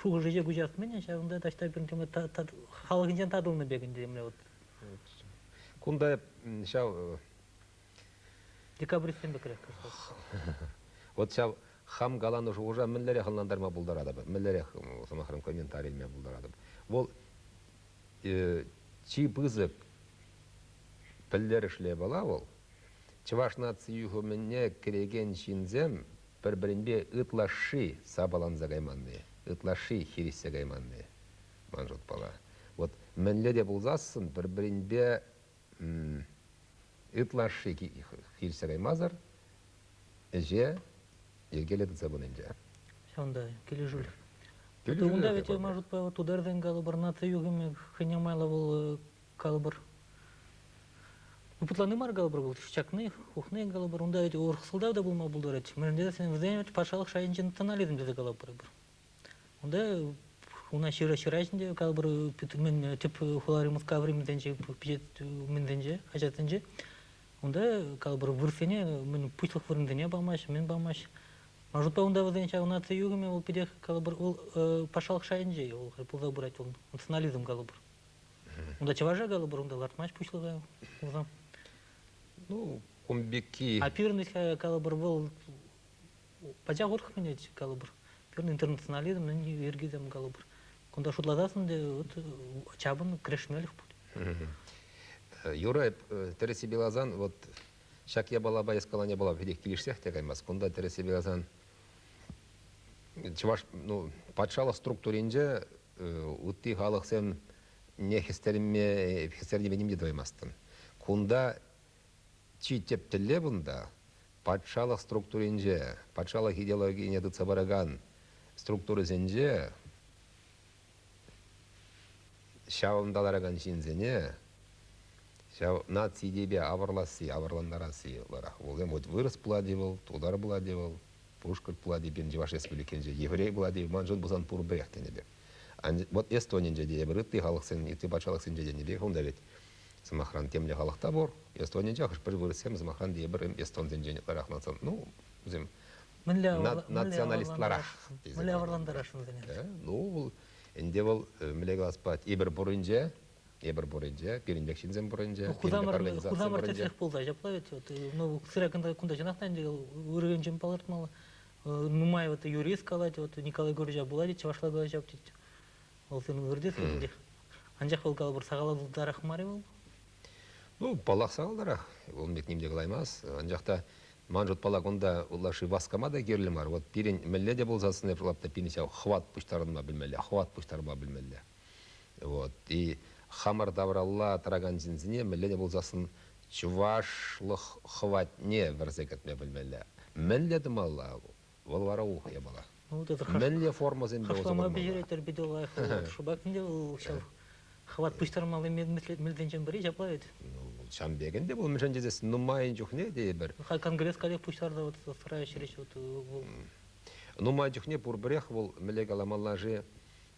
Шухӑшӗче куҫарт-мӗн, ҫавӑнта таҫта пӗр халӑхӗнчен татӑлнӑ пек ӗнтӗ темле вот. Кунта ҫав... Декабристсем пекрех кӑштах. Вот ҫав хам каланӑ шухӑша мӗнлерех ӑнлантарма пултаратӑп, мӗнлерех, сӑмахран, комментарий илме пултаратӑп. Вӑл чи пысӑк пӗлтерӗшлӗ япала вӑл, Чӑваш наци юхӑмӗне кӗрекен ҫынсем пӗр-пӗринпе ытлашши сапаланса кайманни, ытлашши хирӗҫсе кайманни, ман шутпала. Вот мӗнле те пулсассӑн пӗр-пӗринпе ытлашши хирӗҫсе каймасӑр ӗҫе йӗркеленсе пынинче. Ҫавӑнта килӗшӳлӗх. Килӗшӳлӗх. Унта вӗт, ман шутпа, тутарсен калӑпӑр наци юхӑмӗ хӑйне майлӑ вӑл калӑпӑр путлани мар калӑпӑр вӑл чакни ухни калӑпӑр унта вӗт урӑх сӑлтав та пулма пултарать мӗнле вӗсем вӗт патшалӑх шайӗнчи национализм тесе калӑпӑр эпир унта уна ҫыра ҫыра ҫинче калӑпӑр тӗп хулари мускаври мӗнсенче мӗнсенче хаҫатсенче унта калӑпӑр вырӑссене мӗн пуҫлӑх вырӑнсене памаҫҫӗ мӗн памаҫҫӗ ман шутпа унта вӗсен ҫав наци юхӑмӗ вӑл питех калӑпӑр вӑл патшалӑх шайӗнче вӑл пулса пырать вӑл национализм калӑпӑр Унта чӑваша калӑпӑр, унта лартмасть пуҫлӑха улӑм. Ну, кун пекки. А пирный калӑпӑр вӑл пачах урӑх менет калӑпӑр. Пирный интернационализм йӗрки там калӑпӑр. Кунта шутлатасӑн те вот чапӑн крешмелӗх пуль. Юра тӗрӗси билазан вот ҫак япалапа эскаланя япала питех килӗшсех те каймас. Кунта тӗрӗси билазан чӑваш ну, патшалӑх структуринче Ытти халӑхсем не хӗстернӗ те тӑваймастӑн. Кунта чи тӗп тӗллев унта патшалӑх структуринче, патшалӑх идеологине тытса паракан структурӑсенче ҫавӑнта ларакан ҫынсене ҫав наци идейипе авӑрласси, авӑрлантарасси вӑрах. Вӗсем вырӑс пулать-и вӑл, тутар пулать-и вӑл, Пушкӑрт Пулати пирӗн Чӑваш Республикинче еврей Пулати маншӑн пулсан пурпӗрех тенӗ пек. Вот Эстонинче те эпир ытти халӑхсен, ытти патшалӑхсенче тенӗ пек унта вӗт сӑмахран темле халӑх та пур. Эстонинче хӑш-пӗр вырӑссем сӑмахран тепӗр эстонсенчен ытларах мансан, ну, вӗсем мӗнле националистларах тесе. Мӗнле авӑрлантараш вӗсене? Ну, вӑл ӗнтӗ вӑл мӗнле калас пать, эпир пуринче Эпир пур ӗнтӗ, пирӗнпех ҫынсем пур ӗнтӗ. Хусамӑрта чех пулса ҫапла вӗт. Вот, ну, сыра кунта чӑнах та ӗнтӗ вырӑншӑн палӑртмалла. Нумай вот юрист калать, вот Николай Гурья пулать, чӑвашла калаҫав тет. Вӑл сен выртес ӗнтӗ. Анчах вӑл калӑпӑр сахаллатарах мар вӑл. Ну, паллах сахалларах. Вӑл бит ним те калаймас. Анчах та ман шутпала кунта улаши васкама та кирлӗ мар. Вот пирӗн мӗнле те пулса сӑнӗ лапта пирӗн ҫав хват пуҫтарӑнма пӗлмелле, хват пуҫтарма пӗлмелле. Вот. И хамӑр тавралла тӑракан ҫынсене мӗнле пулсассӑн чӑвашлӑх хӑватне вӗрсе кӗртме пӗлмелле. Мӗнле тумалла? Вӑл вара ухӑ япала. Ну, вот это Мӗнле формӑсемпе усӑ хӑвама курмалла? бедеретер питӗ лайӑх шӑпах ӗнтӗ вӑл ҫав хӑват пуҫтармалли мелсенчен пӗри ҫапла вӗт. Ну, ҫам пекенде пул мӗншӗн тесен нумайӑн чухне тейӗпӗр. Хай конгресс каллех пуҫтарса вот сарайӗ ҫӗрӗҫ вот вӑл. Нумай чухне пурпӗрех вӑл мӗнле каламалла-ши?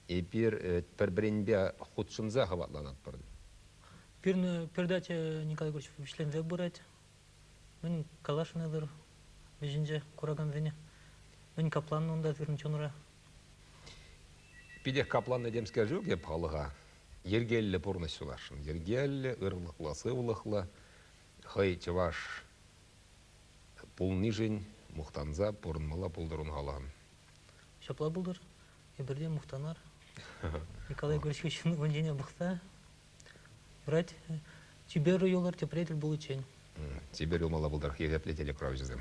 Эпир пӗр-пӗринпе хутшӑнса хӑватланатпӑр. Пирӗн передача Николай Егорович вӗҫленсе пырать. Мӗн каласшӑн вӗҫӗнче куракансене? Мӗн капланнӑ унта сирӗн чунра? Питех капланнӑ темскер ҫук эп халӑха. Йӗркеллӗ пурнӑҫ сунасшӑн. Йӗркеллӗ, ырлӑхлӑ, сывлӑхлӑ, хӑй чӑваш пулнишӗн мухтанса пурӑнмалла пултӑр ун халӑхӑн. Ҫапла пултӑр. Эпир те мухтанар. Николай Егорович хыҫҫӑн вун чене пӑхса юрать, чипер юлӑр тепре тӗл пуличчен. Чипер юлмалла пултарах ехеплӗ телекуравҫӑсем.